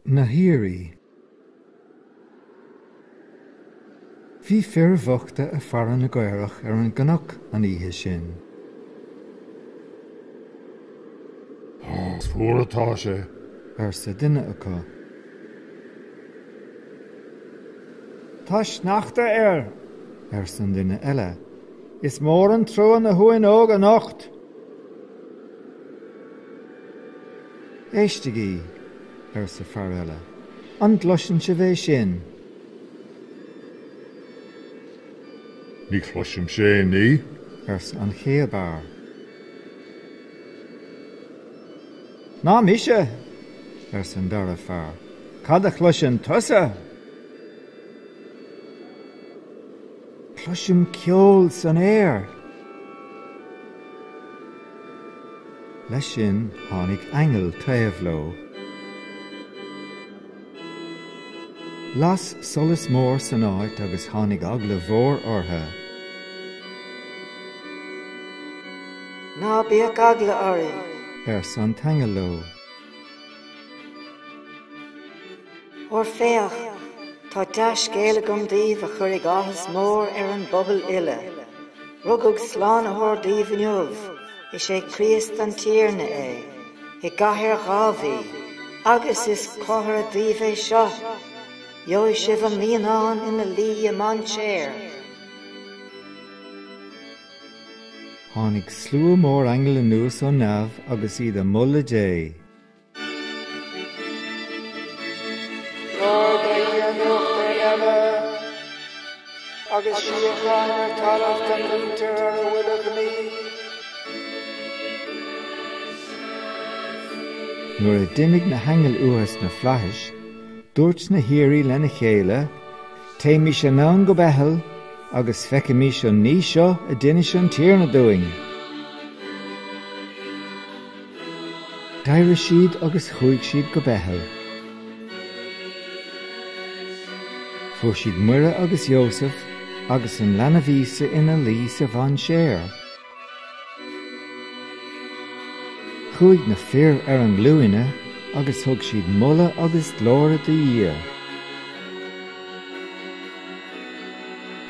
na haoirí. Bhí fir bhochta a' faire na gcaorach ar an gcnoc an oíche sin. Is fuar atá sé, arsa duine acu. Tá sneachta air, arsa an duine eile. Is mór an trua na huain óga anocht. Éistigí! arsa fear eile. An gcloiseann sibh é sin? Ní chloisimse aon ní, arsa an chéad fhear. Ná mise! arsa an dara fear. Cad a chloiseann tusa? Cloisim ceol san aer. Leis sin tháinig aingeal taobh leo. Las solas mór san áit agus tháinig eagla mhór orthu. Ná bíodh eagla oraibh. arsa an t-aingeal leo. Óir féach, tá dea-scéal agam daoibh a chuirfidh áthas mór ar an bpobal uile. Rugadh Slánaitheoir daoibh inniu, is é Críost an Tiarna é, i gcathair Dháiví, agus is comhartha daoibh é seo, gheobhaidh sibh an naíonán ina luí i mainséar. Tháinig slua mór aingeal anuas ó neamh agus iad a moladh Dé. Trodaí ar nuachtáin eile agus síocháin ar talamh don mhuintir ar a bhfuil a ghnaoi. Nuair a d'imigh na haingil uathu sna flaithis, dúirt na haoirí lena chéile, Téimis anonn go Beithil agus feicimis an ní seo a d'inis an Tiarna dúinn. D'éirigh siad agus chuaigh siad go Beithil. Fuair siad Muire agus Iósaf agus an leanbh Íosa ina luí sa mhainséar. Chuaigh na fir ar a nglúine agus thug siad moladh agus glóir do Dhia.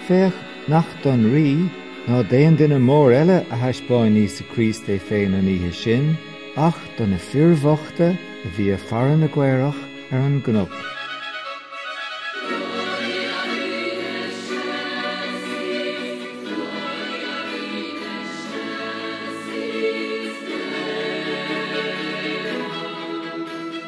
Féach nach don rí ná d'aon duine mór eile a thaispeáin Íosa Críost é féin an oíche sin, ach do na fir bhochta a bhí ag faire na gcaorach ar an gcnoc.